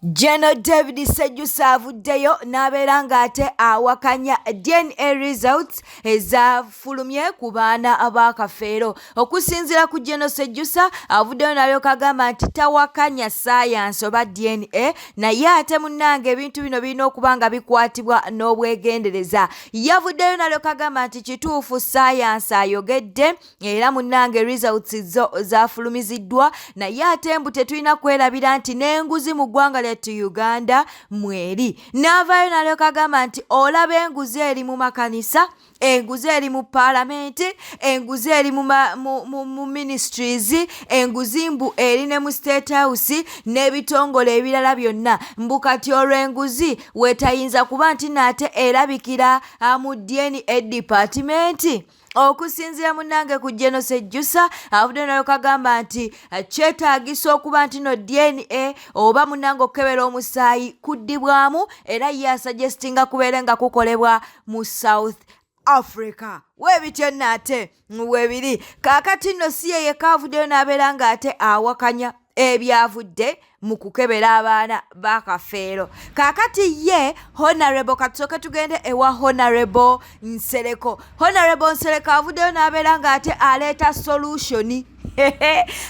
Jeno David Sejusa avuddeyo n'abeera ng'ate awakanya DNA results ezafulumye ku baana ba Kafeero. Okusinziira ku Jeno Sejusa avuddeyo n'alyoka agamba nti tawakanya ssaayansi oba DNA naye ate munnange ebintu bino birina okuba nga bikwatibwa n'obwegendereza. Yavuddeyo n'alyoka agamba nti kituufu ssaayansi ayogedde era munnange results zo zafulumiziddwa naye ate mbu tetulina kwerabira nti n'enguzi mu ggwanga lyattu uganda mweri n'avaayo nalyoka agamba nti olaba enguzi eri mu makanisa enguzi eri mu paalamenti enguzi eri mu ministries enguzi mbu eri ne mu state house n'ebitongole ebirala byonna mbu kati olwo enguzi wetayinza kuba nti naate erabikira mu dna departimenti okusinziira munange ku genos ejjusa avudde nalyoka agamba nti eh, kyetaagisa okuba nti no dna oba munange okukebera omusaayi kuddibwamu era ye asuggestinga kubeere nga kukolebwa mu south africa webityo nno ate webiri kaakati nno si yeyekaavuddeyo n'abeera ng'ate awakanya ebyavudde mu kukebera abaana ba kafeero kaakati ye honarebo katusooke tugende ewa honarebo nsereko honarebo nsereko avuddeyo n'abeera ng'ate aleeta solushoni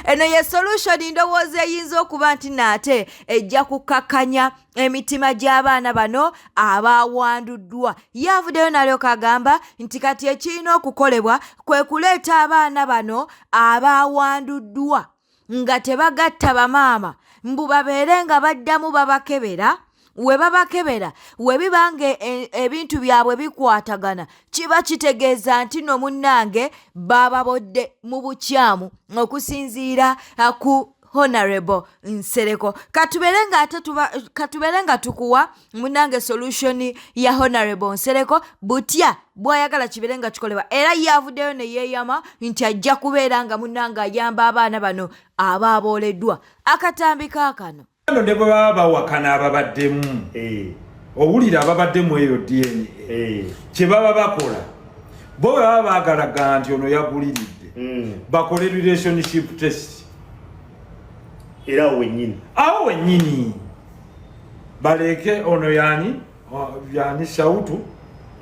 eno ye solushoni ndowooza eyinza okuba nti naate ejja kukkakkanya emitima gy'abaana bano abaawanduddwa ye avuddeyo nalyoka agamba nti kati ekirina okukolebwa kwe kuleeta abaana bano abaawanduddwa nga tebagatta bamaama mbu babeere nga baddamu babakebera we babakebera we biba nga e, ebintu byabwe bikwatagana kiba kitegeeza nti no munnange baababodde mu bukyamu okusinziira uh, ku honorable nsereko katubeere nga ate katubeere nga tukuwa munange solution ya honorable nsereko butya bwayagala kibeere nga kikolebwa era yavuddeyo ne yeeyama nti ajja kubeera nga munange ayamba abaana bano aba abooleddwa akatambi kaakano no ne bwe baba bawakana ababaddemu eh. owulira ababaddemu eyo dna eh. kye baba bakola bo bwe baba baagalaga nti ono yaguliridde hmm. bakole relationship test era awo wenyini awo wenyini baleeke ono yani yani shautu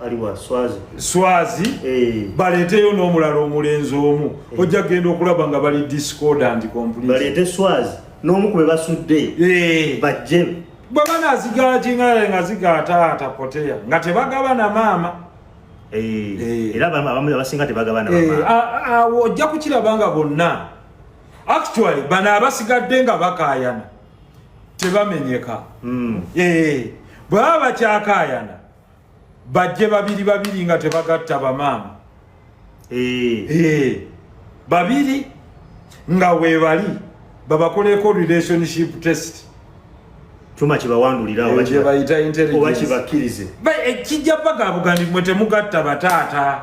aliwa swazi swazi hey. Eh. baleeteyo n'omulala omulenzi omu hey. Eh. ojja kugenda okulaba nga bali discordant complete baleete swazi n'omu kube basudde hey. Eh. bajje bwe banazigala kingalae nga zigataata poteya nga tebagaba na maama era abamu abasinga tebagaba na awo ojja kukiraba nga bonna actually bano abasigadde nga bakaayana tebamenyeka mm. eh, bwebaba bakyakayana bajje babiri babiri nga tebagatta bamaama eh. Eh, babiri nga webali babakoleko relationship test tuma kibawanduliraobakibakkirize kijja paka abugandi mwe temugatta bataata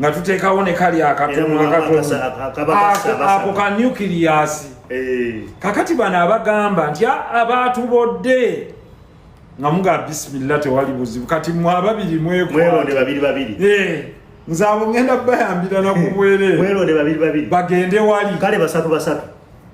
nga tuteekawo ne kali akatono akatonoako ka nucleasi eh. kakati bano abagamba nti abaatubodde nga muga bisimilla tewali buzibu kati mwe ababiri mwekwonde babiri babiri eh. nze abo ngenda bayambira nakubwereere bagende wali kale basatu basatu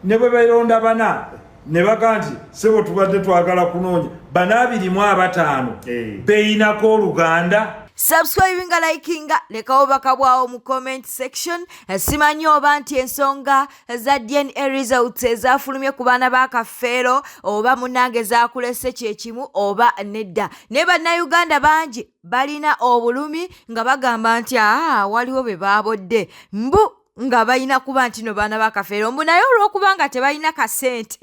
ne bwe beronda bana ne baga nti sebo tubadde twagala kunoonya bana abiri mu abataano eh. beyinako oluganda subscribinga likinga lekawo bakabwawo mu comment section eh, simanyi oba nti ensonga za dna results ezafulumye ku baana ba kafeero oba munange zakulese kyekimu oba nedda naye bannayuganda bangi balina obulumi nga bagamba nti aa waliwo be baabodde mbu nga balina kuba nti no baana bakafeero mbu naye olwokuba nga tebalina kasente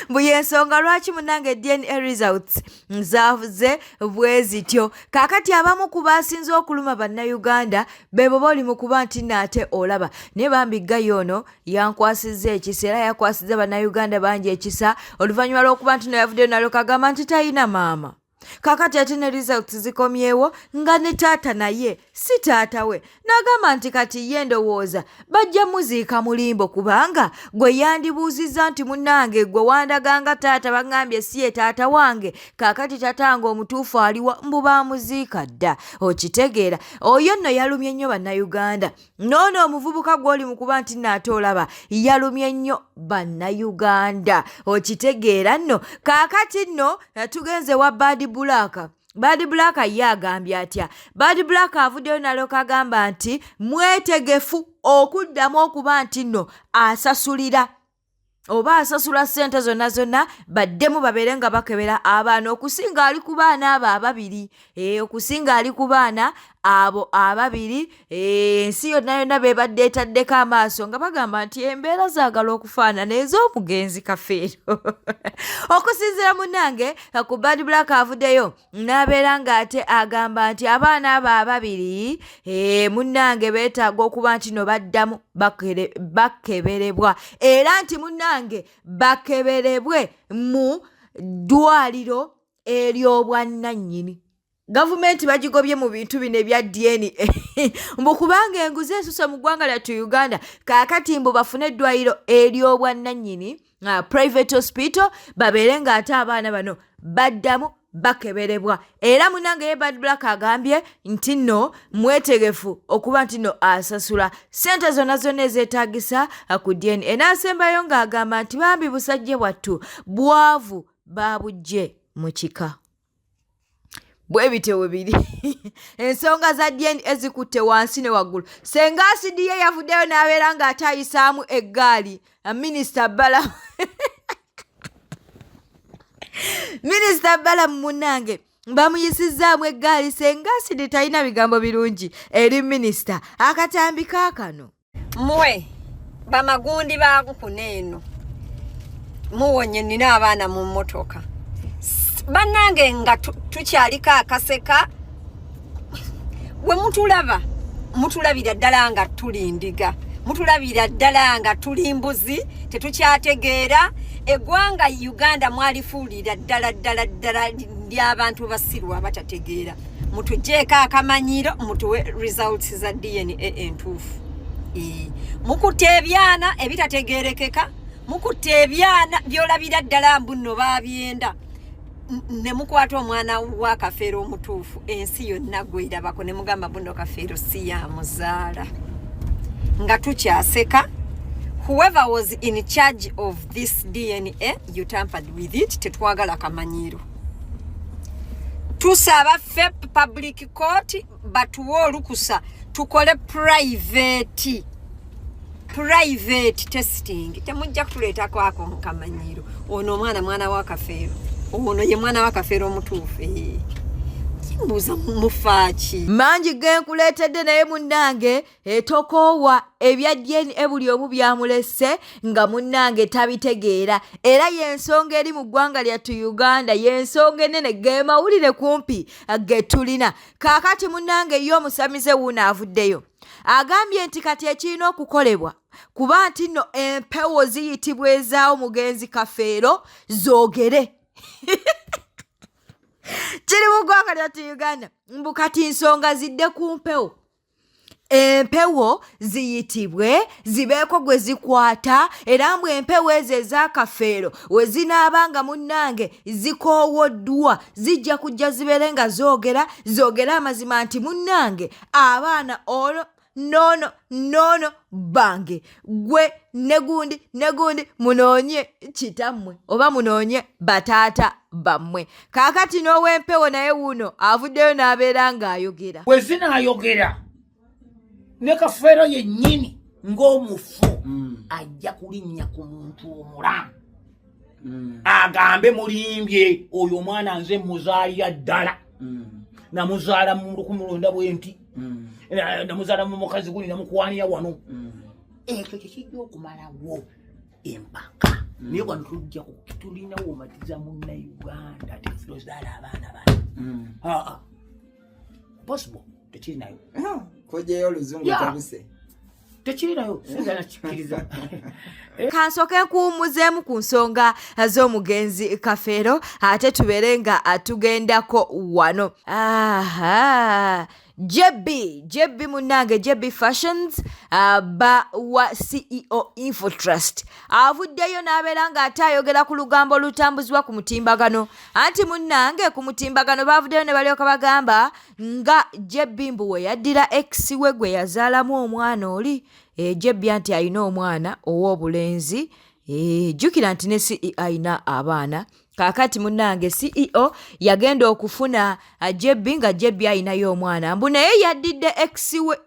mbu yensonga lwaki munange dna results nzavuze bwe zityo kaakati abamu ku baasinze okuluma bannayuganda bebo boli mu kuba nti naate olaba naye bambi ggayo ono yankwasizza ekisa era yakwasizza bannayuganda bangi ekisa oluvannyuma lw'okuba nti no yavuddeyo nalyoka agamba nti talina maama kakati ate ne results zikomyewo nga ne taata naye si taata we n'agamba nti kati ye ndowooza bajja muziika mulimbo kubanga gwe yandibuuzizza nti munnange gwe wandaganga taata baŋambye si ye taata wange kakati taata wange omutuufu aliwa mbu baamuziika dda okitegeera oyo nno yalumye nnyo bannayuganda noono omuvubuka gw'oli mu kuba nti naate olaba yalumye nnyo bannayuganda okitegeera nno kaakati nno eh, tugenze wa baadi bulaaka Bad Black ye agambye atya Bad Black avuddeyo nalyoka agamba nti mwetegefu okuddamu okuba nti nno asasulira oba asasula ssente zonna zonna baddemu babeere nga bakebera abaana okusinga ali ku baana abo ababiri eh, okusinga ali ku baana abo ababiri eh, ensi yonna yonna bebadde etaddeko amaaso nga bagamba nti embeera zaagala okufaanana ez'omugenzi kafeero okusinzira munange ku bad black avuddeyo n'abeera ng'ate agamba nti abaana abo ababiri eh, munnange beetaaga okuba nti no baddamu bakeberebwa era nti munnange bakeberebwe mu ddwaliro ery'obwannannyini gavumenti bagigobye mu bintu bino ebya dna mbu kubanga enguzi esuse mu ggwanga lyattu uganda kaakati mbu bafune eddwaliro ery'obwannannyini uh, private hospital babeere ng'ate abaana bano baddamu bakeberebwa era munange ye bad black agambye nti no mwetegefu okuba nti no asasula sente zonna zonna ezeetagisa uh, ku dna enaasembayo ng'agamba nti bambi busajja bwattu bwavu baabujje mu kika bwe bityo bwe biri ensonga za dna zikutte wansi ne waggulu senga asidi ye yavuddeyo n'abeera ng'ate ayisaamu eggaali minisita bala minisita bala mu munnange bamuyisizzaamu eggaali senga asidi talina bigambo birungi eri minisita akatambi kaakano mwe bamagundi bankuna eno muwonye nina abaana mu mmotoka bannange nga tukyaliko akaseka we mutulaba mutulabira ddala nga tuli ndiga mutulabira ddala nga tuli mbuzi tetukyategeera eggwanga uganda mwalifuulira ddala ddala ddala ly'abantu basiru abatategeera mutujeeko akamanyiiro mutuwe results za dna entuufu mukutte ebyana ebitategerekeka mukutte ebyana byolabira ddala mbunno babyenda ne mukwata omwana wa kafeero omutuufu ensi yonna gwerabako ne mugamba bunno kafeero si ya muzaala nga tukyaseka whoever was in charge of this dna you tampered with it tetwagala kamanyiiro tusaba fe public court batuwe olukusa tukole private private testing temujja kutuleeta kwako mukamanyiro ono omwana mwana wa kafeero ono ye mwana wa kafeero omutuufu mbuuza mufaaki mangi genkuleetedde naye munnange etokoowa ebya dna buli omu byamulese nga munnange tabitegeera era y'ensonga eri mu ggwanga lyattu uganda y'ensonga enene ge mawulire kumpi ge tulina kaakati munnange ye omusamize wuuno avuddeyo agambye nti kati ekirina okukolebwa kuba nti nno empewo ziyitibwa ezaawo mugenzi kafeero zoogere kiri mu ggwanga lyattu uganda mbu kati nsonga zidde ku mpewo empewo ziyitibwe zibeeko gwe zikwata era mbu empewo ezo ez'akafeero we zinaaba nga munnange zikoowoddwa zijja kujja zibeere nga zoogera zoogere amazima nti munnange abaana ono noono noono bange gwe negundi negundi munoonye kitammwe oba munoonye bataata bammwe kaakati n'ow'empewo naye wuuno avuddeyo n'abeera ng'ayogera bwe zinaayogera ne kafeero yennyini ng'omufu hmm. ajja kulinnya ku muntu omulamu mm. agambe mulimbye oyo omwana nze muzaalira ddala mm. namuzaala mu lukumu lwenda bwenti mm. namuzaala mu mukazi guli namukwanira wano mm. ekyo kyekijja okumalawo empaka mm. naye wano tujja tulina womatiza muna uganda tetulozaala abaana bana mm. ah, ah. possible tekirinayo mm. kojeyo oluzungu tabuse tekirirayo sinza nakikkiriza eh? kansoke nkuwummuzeemu ku nsonga z'omugenzi kafeero ate tubeere nga atugendako wano aha JB JB munange JB Fashions uh, ba wa CEO Infotrust avuddeyo n'abeera ng'ate ayogera ku lugambo olutambuzibwa ku mutimbagano anti munange ku mutimbagano baavuddeyo ne balyoka bagamba nga JB mbu we yaddira ex we gwe yazaalamu omwana oli eh, JB anti alina omwana ow'obulenzi eh, jjukira nti ne CE alina abaana kaakati munnange CEO yagenda okufuna ah, JB nga JB alinayo omwana mbu naye yaddidde ex we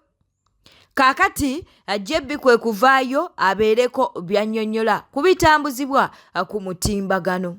kaakati ajjebbi kwe kuvaayo abeereko by'annyonnyola ku bitambuzibwa ku mutimbagano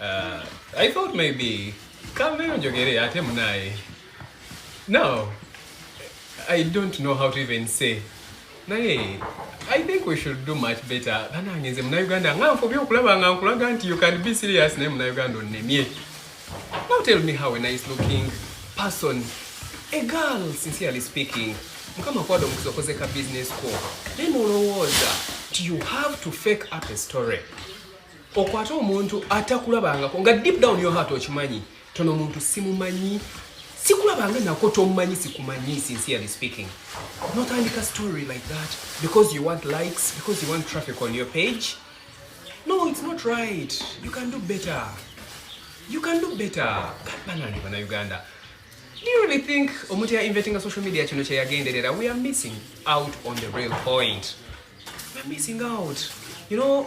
Uh, I thought maybe kambeyo njogere ate munaye no I don't know how to even say naye I think we should do much better banange nze munauganda nga nfubye okulaba nga nkulaga nti you can be serious naye munauganda onnemye now tell me how a nice looking person a girl sincerely speaking mukama kwada omukisa okoze ka business ko naye nolowooza nti you have to fake up a story okwata omuntu atakulabangako nga deep down yo heart okimanyi tono omuntu simumanyi sikulabanga nako tomumanyi sikumanyi sincerely speaking notandika story like that because you want likes because you want traffic on your page no it's not right you can do better you can do better banange bana uganda do you really think omuntu ya inventinga social media kino kyeyagenderera we are missing out on the real point we are missing out you know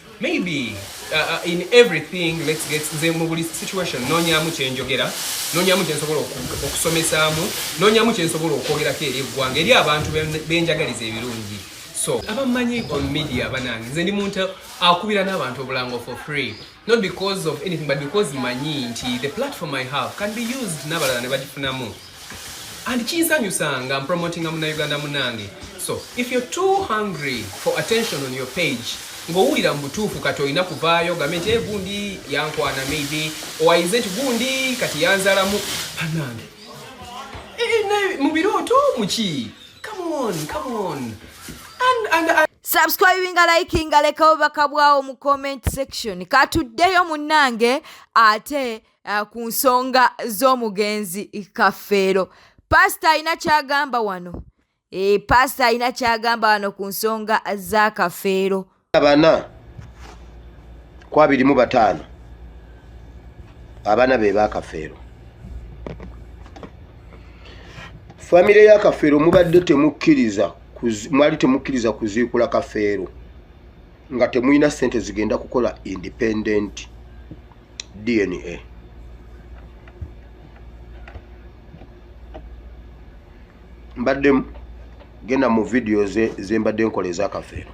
maybe uh, uh, in everything let's get nze mu buli situation nonyamu kyenjogera nonyamu kyensobola okusomesaamu nonyamu kyensobola okwogerako eri eggwanga eri abantu benjagaliza ebirungi so abamanyi on media banange nze ndi muntu akubira n'abantu obulango for free not because of anything but because manyi nti the platform i have can be used n'abalala ne bagifunamu and kinsanyusa nga mpromotinga munauganda munange so if you're too hungry for attention on your page ng'owulira mu butuufu kati olina kuvaayo gambe nti eh, gundi yankwana maybe owayize nti gundi kati yanzalamu banange eh, mu birooto muki come on come on and, and, and subscribinga likinga lekawo bakabwawo mu comment section katuddeyo munnange ate uh, ku nsonga z'omugenzi kafeero paasita alina kyagamba wano e, paasita alina kyagamba wano ku nsonga za kafeero abana ku abiri mu bataano abana be bakafeero famire ya kafeero mubadde temukkiriza mwali temukkiriza kuziikula kafeero nga temulina sente zigenda kukola independenti dna mbaddemu genda mu vidiyo zembadde nkola ezakafeero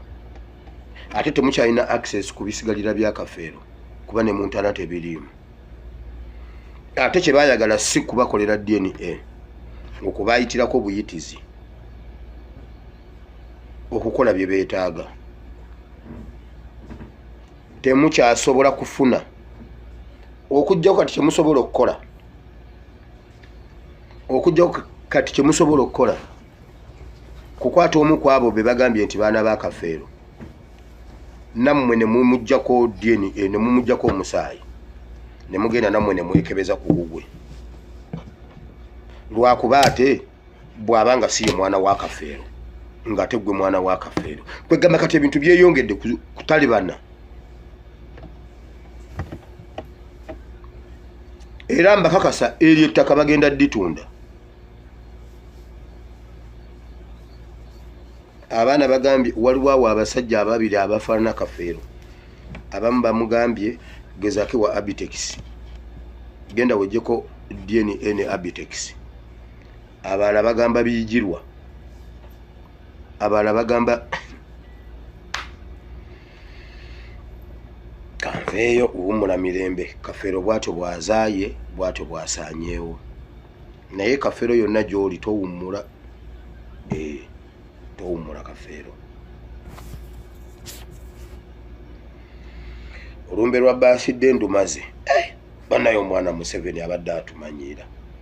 ate temukyalina access ku bisigalira bya kafeero kuba ne muntana tebiriimu ate kyebayagala si kubakolera dna okubayitirako obuyitizi okukola bye beetaaga temukyasobola kufuna okujjako kati kyemusobola okukola okujjako kati kyemusobola okukola kukwata omu ku abo be bagambye nti baana ba kafeero nammwe ne mumujjako dna eh, ne mumujjako omusaayi ne mugenda nammwe ne mwekebeza ku gugwe lwakuba ate bwaba nga siye mwana wa kafeero ngate gwe mwana wa kafeero kwegamba kati ebintu byeyongedde kutalibana era mbakakasa eryo ettaka bagenda ditunda abaana bagambye waliwo awo abasajja ababiri abafaanana kafeero abamu bamugambye gezake wa abitex genda wejeko dna abitex abalala bagamba biyigirwa abalala bagamba kanveeyo uwumula mirembe kafeero bwatyo bwazaaye bwatyo bwasanyeewo naye kafeero yonna gyoli towummula eh, towummula kafeero olumbe lwa baasidde ndumaze eh, banaye omwana museveni abadde atumanyiira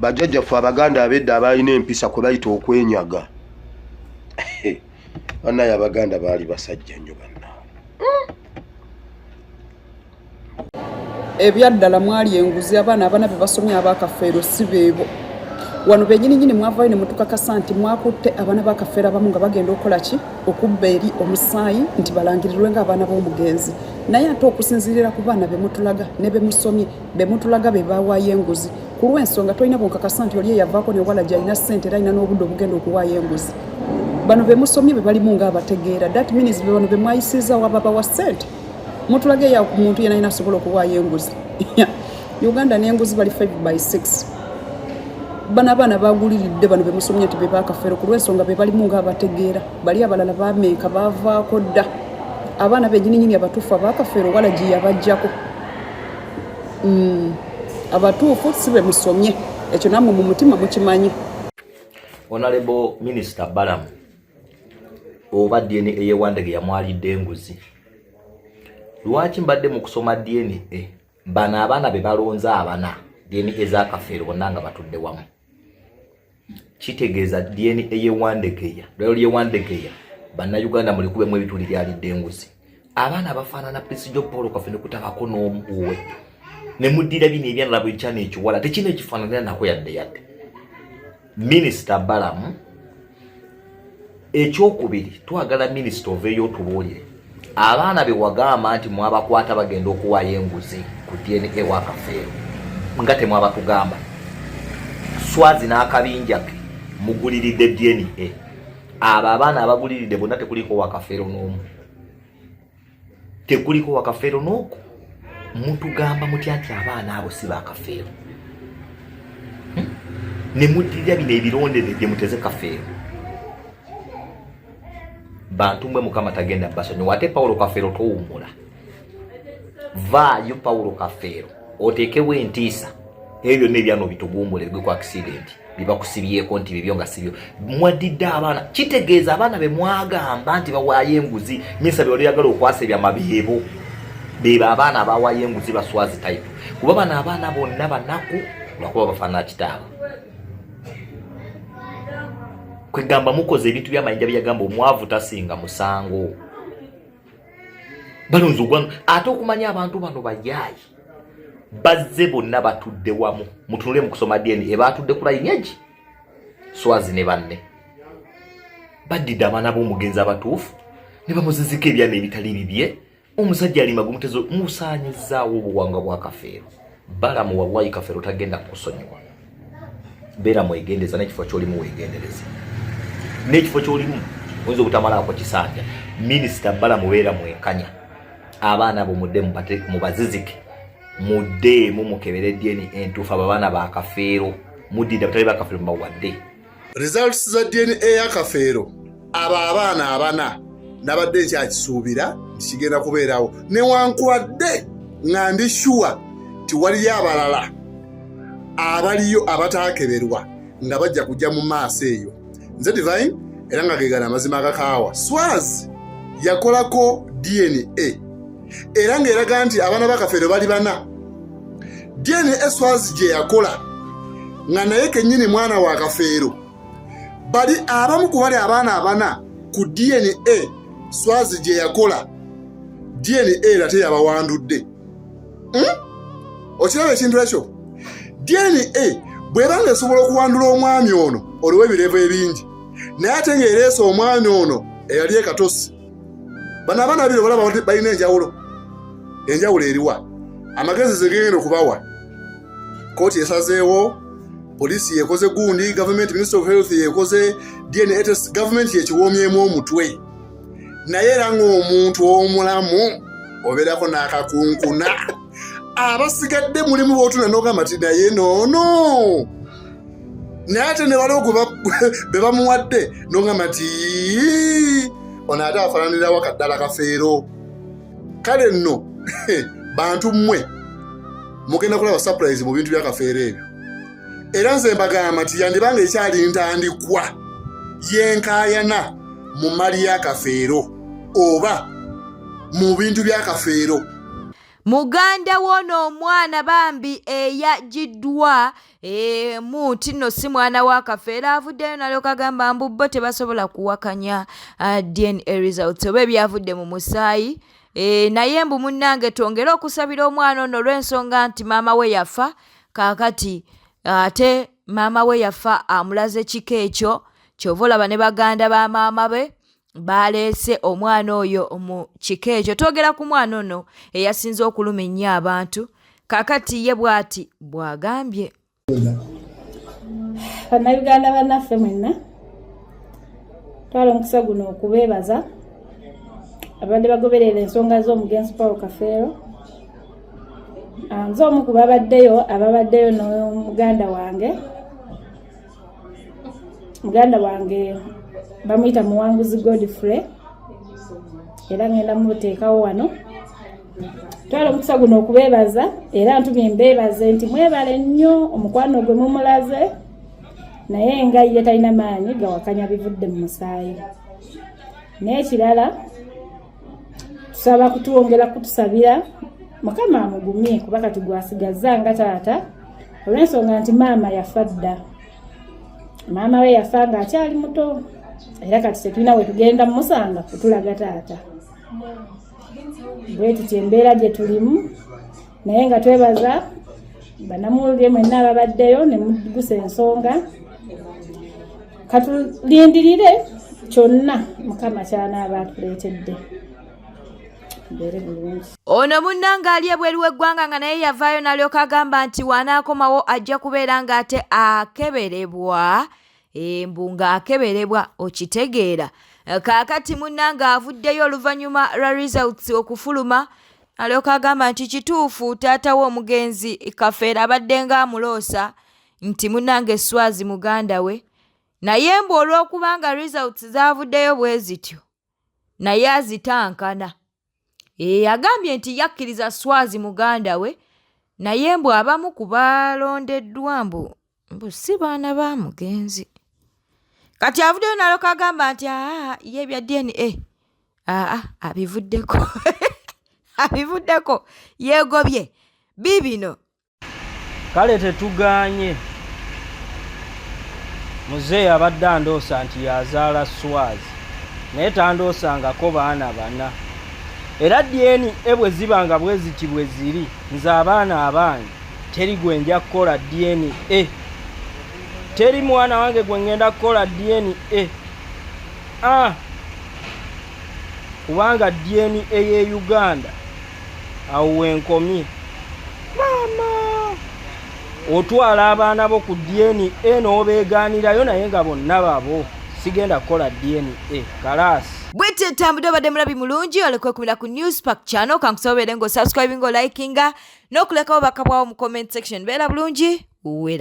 bajjajjaffe abaganda abedda abaalina empisa kwe bayita okwenyaga banaye abaganda baali basajja nnyo bana ebyaddala mwali enguzi abaana abana bebasomye abakafeero si beebo wano benyini nyini mwavayo ne mutukakasa nti mwakutte abaana bakafeero abamu nga bagenda okukola ki okubba eri omusaayi nti balangirirwe nga abaana b'omugenzi naye ate okusinzirira ku baana bemutulaga ne bemusomye bemutulaga be bawaayo enguzi ku lw'ensonga tolina bunkakasa nti oli eyavaako newala gyalina ssente era alina n'obudde obugenda okuwaayo enguzi bano bemusomye be balimu nga abategeera that means bebano bemwayisiizawo ababawa ssente mutulage eya ku muntu yena yena asobola okuwaayo enguzi uganda n'enguzi bali 5 by 6 bano abaana baguliridde bano bemusomye nti bebakafero ku lwensonga bebalimu nga abategeera bali abalala bameeka bavaako dda abaana benyininyini abatuufu abakafero wala gye yabajjako mm, abatuufu si bemusomye ekyo namwe mu mutima mukimanyi onalebo minisita balamu oba dna eyewandege yamwalidde enguzi lwaki mbadde mu kusoma dna bano abaana be balonze abana dna ezakafeero bonna nga batudde wamu kitegeeza dna eyewandegeya lwalyewandegeya bannayuganda mulikubemu ebituli byalidde enguzi abaana bafaanana pisijo paul kafe nekutabako n'omu uwe ne muddira bino ebyanala buli kyana ekiwala tekina ekifaananira nako yadde yadde minisita balamu ekyokubiri twagala minisita oveeyo otubuulire abaana be wagamba nti mwabakwata bagenda okuwaayo enguzi ku dna wakafeero nga temwabatugamba swazi n'akabinja ke muguliridde dna abo abaana abaguliride bonna tekuliko wakafeero n'omu tekuliko wakafeero n'oku mutugamba mutya nti abaana abo si bakafeero hmm? ne muddirira bino ebirondere gye muteze kafeero bantu mwe mukama tagenda basonyiwa ate pawulo kafeero towummula vaayo pawulo kafeero oteekewo entiisa ebyo byonna ebyana obitugumbula ebigwe ku akisidenti byebakusibyeko nti bibyo nga sibyo mwadidde abaana kitegeeza abaana bemwagamba nti bawaayo enguzi minsa byolyagala okwasa ebyama byebo bebo abaana abawaayo enguzi baswazi type kuba bano abaana bonna banaku lwakuba bafaanana kitaabwe kwegamba mukoze ebintu byamayinja byeyagamba omwavu tasinga musango balonze ogwanga ate okumanya abantu bano bayaayi bazze bonna batudde wamu mutunule mu kusoma dna ebaatudde ku layinyaji swazi ne banne baddidde abaana b'omugenzi abatuufu ne bamuzizika ebyana ebitali bibye omusajja ali magumutezo musaanyizaawo obuwanga bwa kafeero balamu wallahi kafero tagenda kukusonyiwa beera mwegendeza nekifo kyolimu wegendereza nekifo kyolimu oyinza obutamalaako kisanja minisita bala mubeera mwenkanya abaana abo mudde mubazizike muddeemu mukebere dyeni entuufu abo abaana bakafeero muddida batali bakafeero mubawadde results za dna ya kafeero abo abaana abana nabadde nkyakisuubira nti kigenda kubeerawo newankubadde nga ndi shuwa ti waliyo abalala abaliyo abataakeberwa nga bajja kujja mu maaso eyo nze divine era nga gegana amazima agakaawa swazi yakolako dna era ng'eraga nti abaana ba kafeero bali bana dna swazi gye yakola nga naye kennyini mwana wa kafeero bali abamu ku bali abaana abana ku dna swazi gye yakola dna era teyabawandudde hmm? okiraba ekintu ekyo dna bweba nga esobola okuwandula omwami ono oliwo ebirevu ebingi naye ate ng'ereesa omwami ono eyali ekatosi bano abaana babiri obalaba balina enjawulo enjawulo eriwa amagezi zegenda okubawa kooti esazeewo poliisi yekoze gundi gavumenti minister of health yekoze dna test gavumenti yekiwoomyemu omutwe naye era ngaomuntu omulamu obeerako n'akakunkuna abasigadde mulimu botuna nogamba ti naye noono naye ate nebali ogwo bebamuwadde nongamba nti ono ate afananirawo kaddala kafeero kale nno bantu mmwe mugenda kulaba surprise mu bintu byakafeero ebyo era nze mbagamba nti yandibanga ekyali ntandikwa yenkayana mu mali yakafeero oba mu bintu byakafeero Muganda w'ono omwana bambi eyagiddwa eh, mu nti nno si mwana wa kafeera avuddeyo nalyoka agamba mbu bo tebasobola kuwakanya ah, dna results oba ebyavudde mu musaayi eh, naye mbu munnange twongere okusabira omwana ono olw'ensonga nti maama we yafa kaakati ah, ate maama we yafa amulaze kika ekyo kyova olaba ne baganda ba maama be baaleese omwana oyo mu kika ekyo twogera ku mwana ono eyasinze okuluma ennyo abantu kakati ye bwati bwagambye bannayuganda bannaffe mwenna twala omukisa guno okubeebaza ababadde bagoberera ensonga z'omugenzi paul kafeero ah, nze omu ku babaddeyo ababaddeyo n'omuganda wange muganda wange bamuyita muwanguzi godfrey era ngenda muteekawo wano twala omukisa guno okubeebaza era ntumye mbeebaze nti mwebale nnyo omukwano gwe mumulaze naye nga ye talina maanyi gawakanya bivudde mu musaayi n'ekirala tusaba kutwongera kutusabira mukama amugumye kuba kati gwasigazza nga taata olw'ensonga nti maama yafa dda maama we yafa nga akyali muto era kati tetulina wetugenda mumusanga kutulaga taata bwetutyo embeera gye tulimu naye nga twebaza banamuwulire mwenna ababaddeyo ne mugusa ensonga katulindirire kyonna mukama kyanaaba atuleetedde ono munnanga ali ebweru w'eggwanga nga naye yavaayo nalyoka agamba nti wanaakomawo ajja kubeera ng'ate akeberebwa embu eh, ng'akeberebwa okitegeera kaakati munnanga avuddeyo oluvannyuma lwa results okufuluma alyoka agamba nti kituufu taata we omugenzi kafeera abadde nga amuloosa nti munange swazi muganda we naye mbu olw'okubanga results zavuddeyo bwe zityo naye azitankana eyagambye eh, nti yakkiriza swazi muganda we naye mbu abamu ku balondeddwa mbu mbu si baana ba mugenzi kati avuddeyo naloka agamba nti aa ye ebya dna aa abivuddeko abivuddeko yeegobye biibino kale tetugaanye muzeeyi abadde andoosa nti yazaala swazi naye tandoosangako baana bana era dyeni ebwe ziba nga bweziti bwe ziri nze abaana abange teri gwe nja kukola dna teri mwana wange gwe ngenda kukola dna ah. kubanga dna eye uganda awo wenkomye maama otwala abaana bo ku dna noobeegaanirayo naye nga bonna babo sigenda kukola dna kalaasi bwete etambudde obadde mulabi mulungi olekwe kumira ku news park channel kankusobobeere ng'osubscribinga olikinga n'okulekawo bakabwawo mu comment section beera bulungi wera